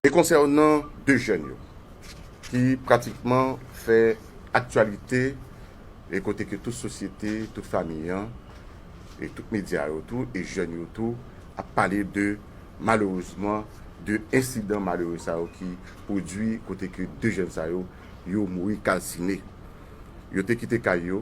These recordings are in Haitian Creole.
E konsènan 2 jèn yo ki pratikman fè aktyalite e kote ke tout sosyete, tout fami an e tout medya yo tou e jèn yo tou ap pale de malerezman 2 ensidan malere sa yo ki pwodui kote ke 2 jèn sa yo yo mouri kalsine. Yo te kite kay yo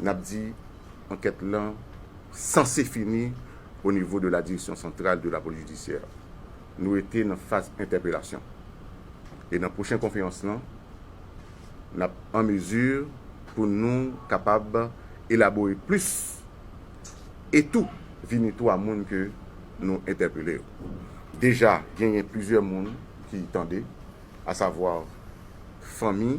n ap di ankèt lan sanse fini o nivo de la Direction Centrale de la Police Judiciaire. Nou rete nan faz entèpelasyon. E nan pwochen konferans lan, n ap an mezi pou nou kapab elabore plis e tou vini tou a moun ke nou entèpele yo. Deja genyen plizyè moun ki tande, asavwa fanmi.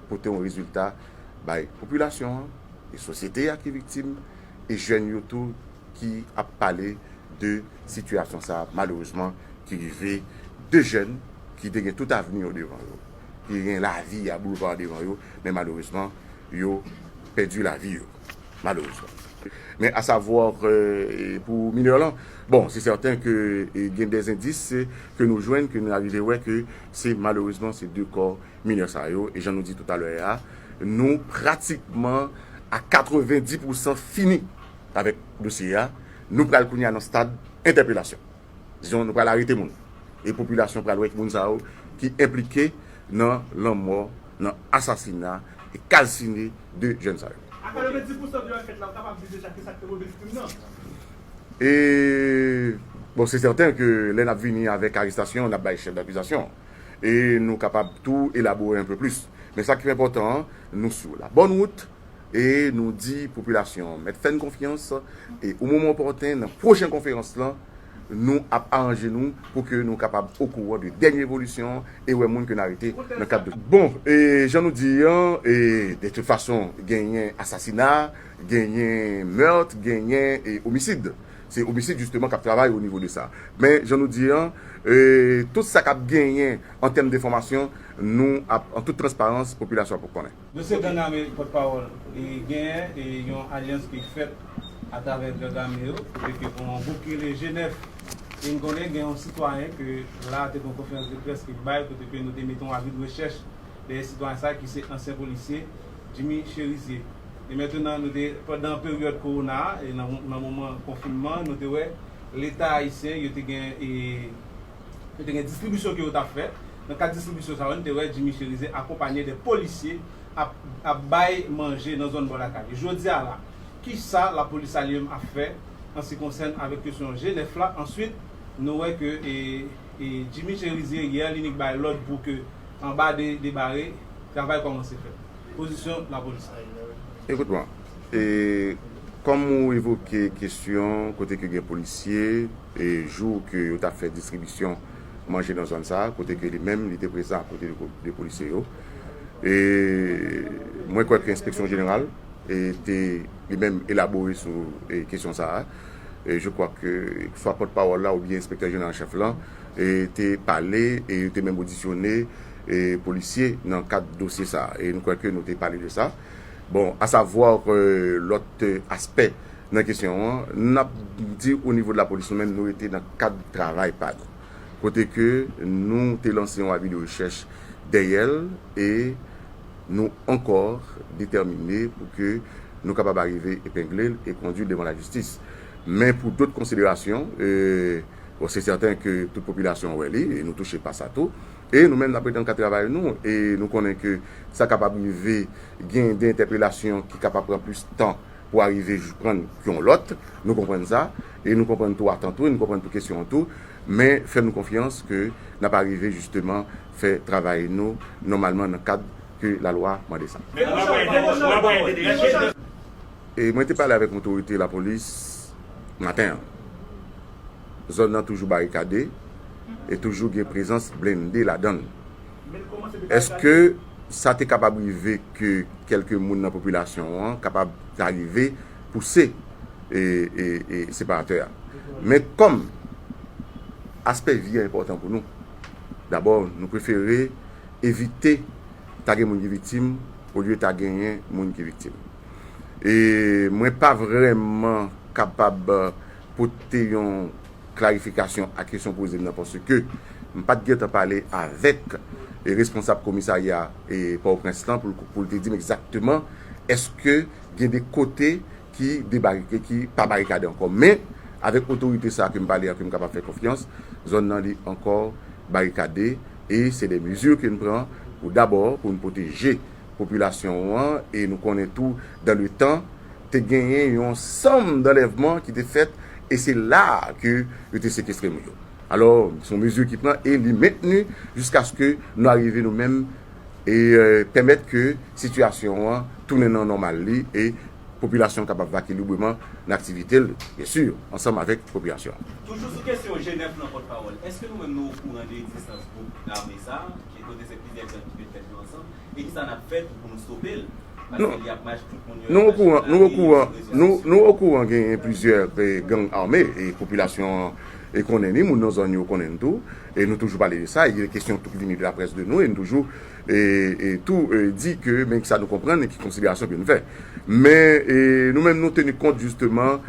pote yon rezilta bay popilasyon an, e sosyete a ki viktim, e jèn yo tou ki ap pale de sitiyasyon sa a malerezman ki rive 2 jèn ki te gen tout avni yo devan yo, ki te gen lavi a boulva devan yo, men malerezman yo pèdi lavi yo, malerezman. Men a savwa ke pou minè lan, bon se sèten ke gen dè zendis ke nou jwenn, ke nou arive wè ke se malerezman se 2 kò minè sa yo, e jan nou di toutalè a, nou pratikman a 90 pousan fini avèk dosye a, nou pral kounye a nan stad entèpelasyon. Dizon nou pral arete moun, e popilasyon pral wè ki moun sa yo ki enplike nan lanmò, nan asasina e kalsine 2 jèn sa yo. A 90 pousan de ankèt la, ou kapab di deja kisa ki te motive krim nan? E, bon se sèten ke lè n ap vini avèk arestasyon, n ap bay chèf dakizasyon. e nou kapab tou elabore anpe plis. Men sa ki pi enpòtan an, nou sou la bòn wout e nou di popilasyon an mèt fè n konfyans e o moman opòten nan pwochen konferans lan, nou ap aranje nou pou ke nou kapab okouran de dènye evolisyon e wè moun ke n arete nan kad dosye. Bon, e jan nou di an, e de tout fason genyen asasina, genyen meurt, genyen e omisid. Se Homicide justement kap travay o nivo de sa. Men jan nou di an, tout sa kap genyen an tèm denfòmasyon, nou ap an tout transparans popilasyon ap konnen. Dosye gang ame pòt pawòl e genyen e yon alyans ki fèt atravè gang ame yo kote ke gon yon gwoup ki rele G9 e n konnen gen yon sitwayen ke la te gon konferans de près ke l bay kote ke nou te mete yon avi de rechèch dèyè sitwayen sa ki se ansyen polisye Jimmy Cherizier. E mentenan nou te pandan peryòd kowona a e nan moman konfinman an nou te wè leta ayisyen yo te gen e yo te gen distribisyon ke yo tap fè nan kad distribisyon sa yo nou te wè Jimmy Cherizier akonpanye de polisye ap ap bay manje nan zòn bò lakay li jodi a la kisa lapolis sa li menm ap fè an se konsèn avèk kesyon G 9 la answit nou wè ke e e Jimmy Cherizier yè li nik bay lòd pou ke anba de de bare travay kòmanse fèt. pozisyon lapolis la ye la wi. Ekout mwen, e kòm ou evoke kesyon kote ke gen polisye e jou ke yo tap fè distribisyon manje nan zòn sa, kote ke li menm li te prezan akote de polisye yo, e mwen kwè ke enspeksyon jeneral e te li menm elabore sou kesyon sa a, e je kwa ke swa pòt pawòl la oubyen enspektè jeneral an chèf lan. te pale e yo te menm odisyone polisye nan kad dosye sa a. E nou kwè ke nou te pale de sa. Bon, a savwa ke lòt aspè nan kesyon an, n ap di o nivo de la polis nou menm nou rete nan kad travay pa nou. Kote ke nou te lanse yon avi de rechèch dèyè l e nou ankò detèmine pou ke nou kapab arive epengle l e kondui l devan lajistis. Men pou dot konsiderasyon. bon se sèten ke tout popilasyon an wè li e nou touche pa sa tou e nou menm n ap rete nan kad travay nou e nou konnen ke sa kapab rive gen de entèpelasyon ki kapab pran plis tan pou arive jprann yon lòt nou konprann sa e nou konprann tou atant ou e nou konprann tou kesyon an tou men fè nou konfyans ke n ap arive jisteman fè travay nou nòmalman nan kad ke lalwa mande sa. Mwen te pale avèk otorite lapolis maten an. Zòn nan toujou barikade e toujou gen prezans blende ladan l. Èske sa te kapab rive ke kèlke moun nan popilasyon an kapab ta rive pouse separatè a? Men kòm aspè vi an enpòtan pou nou, dabò nou prefere evite ta gen moun ki viktim olye ta genyen moun ki viktim. e mwen pa vrèman kapab pote yon klarifikasyon a kesyon w poze m nan paske m pa t gen tan pale avèk responsab komisarya Pòtoprens lan pou l te di m egzakteman èske gen de kote ki debarike, ki pa barikade ankò. Men, avèk otorite sa a ke m pale a ke m kapab fè konfyans, zòn nan li ankò barikade e se de mezi ke n pran pou dabò pou n pwoteje. popilasyon ou an e nou konnen tou dan le tan te genyen yon sanm danlèvman ki te fèt e se la ke yo te sekestre moun yo. Alò se yon mezi ki pran e li mentni jiskaske nou arive nou menm e pèmèt ke sitiyasyon an tounen nan nòmal li e popilasyon kapab vake libreman nan aktivite l byen si ansanm avèk popilasyon an. Toujou sou kesyon Jenèf lan pòtpawòl, èske nou menm nou okouran de egzistans gwoup ame sa? Nou okouran genyen plizyè gang ame e popilasyon an e konnen ni moun nan zòn yo konnen tou e nou toujou pale de sa e kesyon tout vini de la près de nou e nou toujou e tou di ke men ki sa nou konprann e ki konsiderasyon ke nou fè men e nou menm nou teni kont jisteman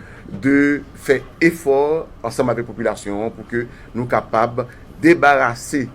de fè efò ansanm avèk popilasyon an pou ke nou kapab debarase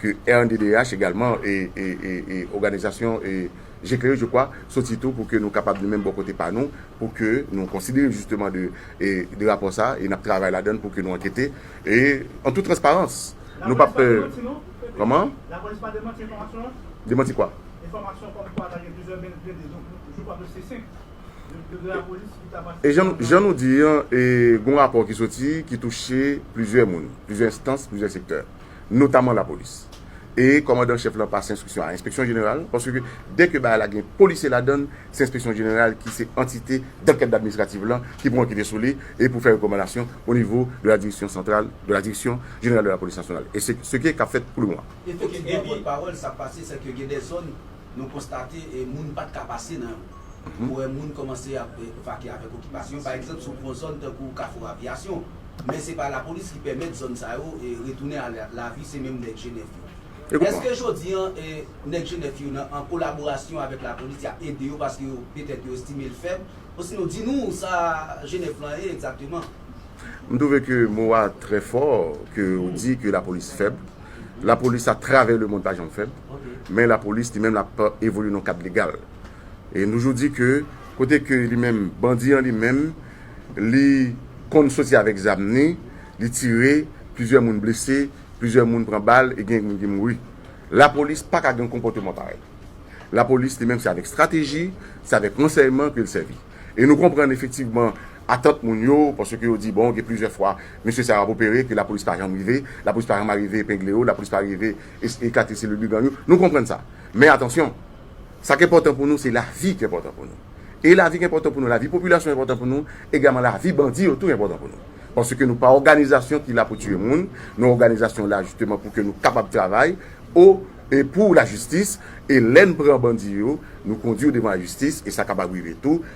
ke rnddh egalman e oganizasyon je klere je kwa soti tou pou ke nou kapab nou menm bò kote pa nou pou ke nou konsidere jisteman de rapò sa e n ap travay ladann pou ke nou ankete e an tout transparans nou pa p lapolis pa demanti non kòman lapolis pa demanti enfòmasyon an demanti kwa enfòmasyon kòm kwa ta gen plizyè men blende jou pa dosye senp de lapolis ki ta pase e jan nou di an e gon rapò ki soti ki touche plizyè moun plizyè enstans plizyè sektè. notaman lapolis. E kòmandan chèf lan pase enstriksyon a enspeksyon jeneral, paske dè ke bagay la gen polisye ladan l, se enspeksyon jeneral ki se antite dankèt administrativ lan ki pou ankete sou li e pou fè rekòmandasyon o nivo de la direksyon santral, de la direksyon jeneral de la polis nasyonal. E se se ke k ap fèt pou le moman. E se ke depi pawòl sa pase, se ke gen dè zòn. Nou konstate moun pat ka pase nan yo. Nou wè moun kòmanse ap vake avèk okipasyon, pa egzanp sou gwo zòn tankou Kafou Aviyasyon. Men se pa lapolis ki pèmèt zòn sa yo retounen a lavi, se menm nèg Jenèf yo. Eske jodi an nèg Jenèf yo nan an kolaborasyon avèk lapolis y ap ede yo paske yo petèt yo estime l fèb? Osinon di nou sa Jenèf lan ye egzakteman? M twouve ke mo a trè fò ke ou di ke lapolis fèb. Lapolis a travè le mond pa janm fèl, men lapolis li menm l ap evolye nan kad legal. E nou jou di ke kote ke li menm bandi an li menm li konn soti avèk zam ni, li tire, plizyè moun blese, plizyè moun pran bal e gen moun ki mouri. Lapolis pa ka gen yon konpòteman parèy. Lapolis li menm se avèk strateji, se avèk ransèyman ke l sèvi. E nou konprann efektivman atant moun yo, paske yo di bon gen plizyè fwa mesye sa yo ap opere ke lapolis pa janm rive, lapolis pa janm arive epengle yo, lapolis pa rive eklate selil brigan yo, nou konprann sa. Men atansyon, sa k enpòtan pou nou se lavi k enpòtan pou nou. E lavi k enpòtan pou nou, lavi popilasyon enpòtan pou nou, egalman lavi bandi yo tou enpòtan pou nou. Paske nou pa òganizasyon ki la pou tiye moun, nou òganizasyon la jisteman pou ke nou kapab travay o e pou lajistis, e lè n pran bandi yo, nou kondi yo devan lajistis, e sa kapab rive tou,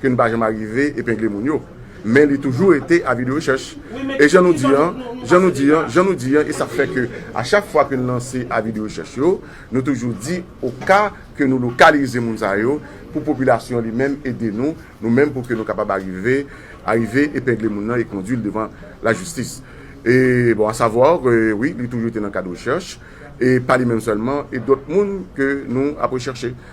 ke n pa janm arive epengle moun yo, men li toujou rete avi de rechèch. E jan nou di an, jan nou di an, jan nou di an, e sa fè ke a chak fwa ke n lanse avi de rechèch yo, nou toujou di o ka ke nou lokalize moun sa yo, pou popilasyon an li menm ede nou, nou menm pou ke nou kapab arive, arive epengle moun nan e kondui l devan lajistis. E bon a savwa ke wi, li toujou rete nan kad rechèch, e pa li menm sèlman, e dòt moun ke nou ap rechèche.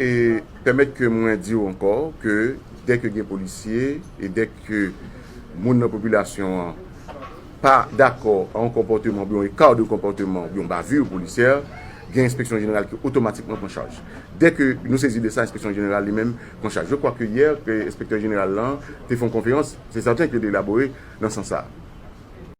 E pèmèt ke mwen di w ankò ke dè ke gen polisye e dè ke moun nan popilasyon an pa dakò a yon konpòteman oubyen yon eka de konpòteman oubyen yon bavir polisyè, gen enspeksyon jeneral ki otomatikman pran chaj. Dè ke nou sezi de sa enspeksyon jeneral li menm pran chaj. Je kwa ke yè enspektè jeneral lan te fè yon konferans, se sèten ke li elabore nan sans sa.